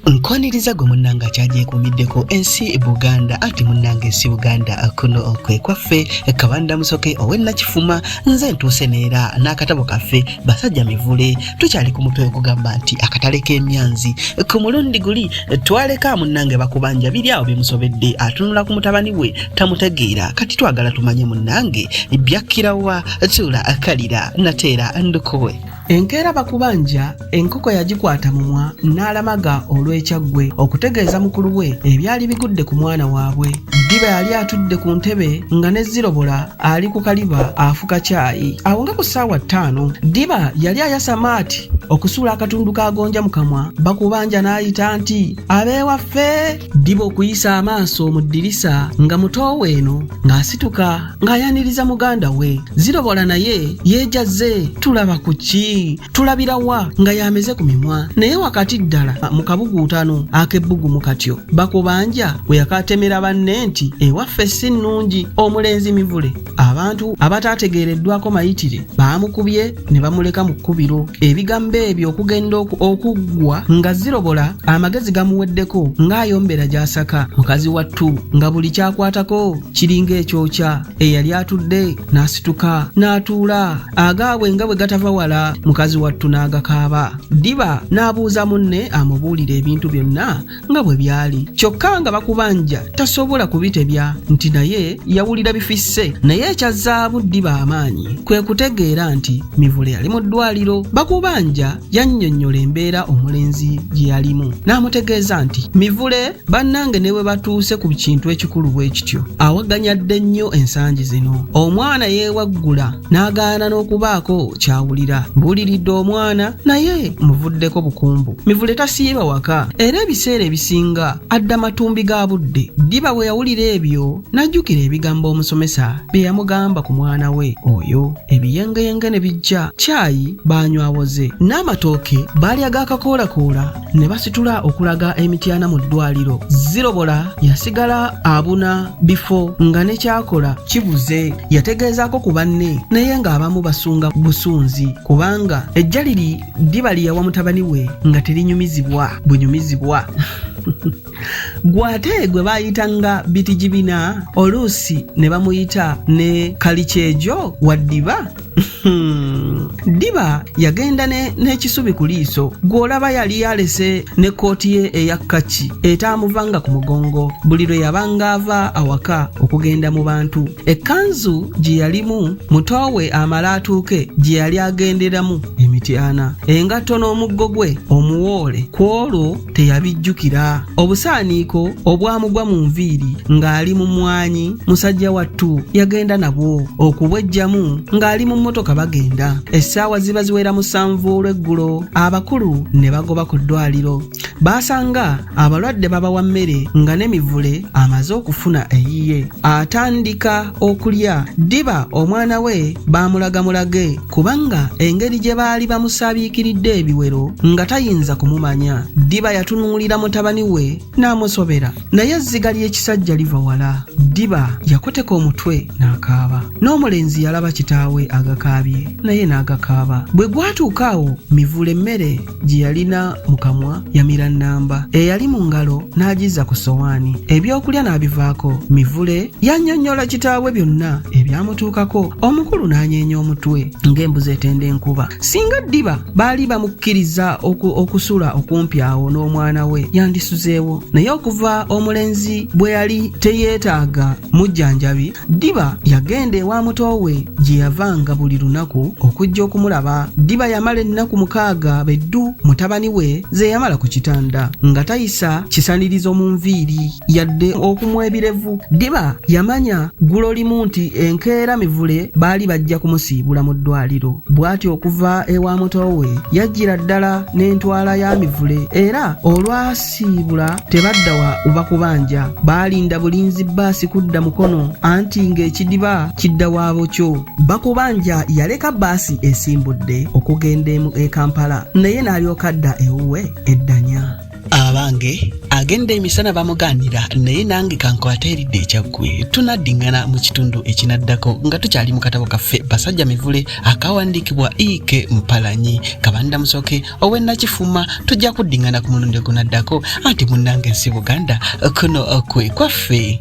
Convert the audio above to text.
nkoniriza gwe munnange akyagyekuumiddeko ensi buganda anti munnange ensi buganda kuno kwe kwaffe kabanda musoke owennakifuma nze ntuuse neera n'akatabo kaffe basajja mivule tukyali ku mutwe ogugamba nti akatale k'emyanzi ku mulundi guli twaleka munnange bakubanja biri awo bimusobedde atunula ku mutabani we tamutegeera kati twagala tumanye munnange byakkirawa tuula akalira nateera ndukuwe Enkeera bakubanja enkoko yagikwata mumwa n'alamaga olw'ekyaggwe okutegeeza mukulu we ebyali bigudde ku mwana waabwe. Ddiba yali atudde ku ntebe nga ne Zirobola ali ku kaliba afuka caayi. Awo nga ku ssaawa ttaano, Ddiba yali ayasa Maati okusuula akatundu ka gonja mu kamwa, Bakubanja n'ayita nti, Ab'ewaffe! Ddiba okuyisa amaaso mu ddirisa nga muto we eno ng'asituka ng'ayaniriza muganda we zirobola naye yeejazze tulaba ku ki tulabira wa nga yameze ku mimwa naye wakati ddala mu kabuguutano ak'ebbugumu katyo bakubanja we yakaatemera banne nti ewaffe si nnungi omulenzi mivule abantu abataategeereddwako mayitire baamukubye ne bamuleka mu kkubiro ebigambo ebyo okugenda okuggwa nga zirobola amagezi gamuweddeko ng'ayombera gy'asaka mukazi wattu nga buli kyakwatako kiringa ekyokya eyali atudde n'asituka n'atuula agaabwe nga bwe gatava wala mukazi wattu n'agakaaba ddiba n'abuuza munne amubuulire ebintu byonna nga bwe byali kyokka nga bakubanja tasobola kubitebya nti naye yawulira bifisse naye ekya zaabu ddiba amaanyi kwe kutegeera nti mivule yali mu ddwaliro bakubanja yannyonnyola embeera omulenzi gye yalimu n'amutegeeza nti mivule bannange ne bwe batuuse ku kintu ekikulu bwe kityo awaganyadde nnyo ensangi zino omwana yeewaggula n'agaana n'okubaako ky'awulira mbuuliridde omwana naye muvuddeko bukumbu mivule tasiiba waka era ebiseera ebisinga adda matumbi ga budde ddiba bwe yawulira ebyo n'ajjukira ebigambo omusomesa bye yamugamba ku mwana we oyo ebiyengeyenge ne bijja caayi baanywawoze n'amatooke baalya gaakakoolakoola ne basitula okulaga emityana mu ddwaliro zirobola yasigala abuna bifo nga ne kyakola kibuze yategeezaako ku banne naye ng'abamu basunga busunzi kubanga ejjaliri ddiba liyawa mutabani we nga terinyumizibwa bunyumizibwa gwate gwe bayita nga bitijibina oluusi ne bamuyita ne kalikyejo waddiba Hmm. diba yagenda n'ekisubi ku liiso gw'olaba yali yalese ne kkooti ye eya kaki etaamuvanga ku mugongo buli lwe yabanga ava awaka okugenda mu bantu ekkanzu gye yalimu mutoowe amala atuuke gye yali agenderamu emityana engatto n'omuggo gwe omuwoole ku olwo teyabijjukira obusaaniiko obwamugwa mu nviiri ng'ali mu mwanyi musajja wattu yagenda nabwo okubwejjamu ng'ali mu mmotoka bagenda essaawa ziba ziwera musanvu olw'eggulo abakulu ne bagoba ku ddwaliro baasanga abalwadde babawa mmere nga n'emivule amaze okufuna eyiye atandika okulya ddiba omwana we baamulagamulage kubanga engeri gye baali bamusaabiikiridde ebiwero nga tayinza kumumanya ddiba yatunuulira mutabani we n'amusobera naye ezziga ly'ekisajja liva wala ddiba yakoteka omutwe n'akaaba n'omulenzi yalaba kitaawe agakaabye naye n'agakaaba bwe gwatuuka awo mivule emmere gye yalina mu kamwa yamira nnamba eyali mu ngalo n'agizza ku ssowaani ebyokulya n'abivaako mivule yannyonnyola kitaabwe byonna ebyamutuukako omukulu n'anyeenya omutwe ng'embuzi etenda enkuba singa ddiba baali bamukkiriza okusula okumpi awo n'omwana we yandisuzeewo naye okuva omulenzi bwe yali teyeetaaga mujjanjabi Ddiba yagenda ewa muto we gye yavanga buli lunaku okujja okumulaba. Ddiba yamala ennaku mukaaga be ddu mutabani we ze yamala ku kitanda nga tayisa kisanirizo mu nviiri yadde okumwa ebirevu. Ddiba yamanya ggulo limu nti enkeera Mivule baali bajja kumusiibula mu ddwaliro. Bw'atyo okuva ewa muto we yajjira ddala n'entwala ya Mivule era olwa siibula tebadda wa uva kubanja baalinda bulinzi bbaasi kudda mukono anti ng'ekidiba kidda waabo kyo bakubanja yaleka bbaasi esimbudde okugenda emu e kampala naye n'alyoka adda ewuwe eddanya abange agenda emisana bamugaanira naye nange kankwata eridde ekyaggwe tunaddingana mu kitundu ekinaddako nga tukyali mu katabo kaffe basajja mivule akawandiikibwa ike mpalanyi kabanda musoke owe nakifuma tujja kuddingana ku mulundi ogunaddako anti munnange ensi buganda kuno kwe kwaffe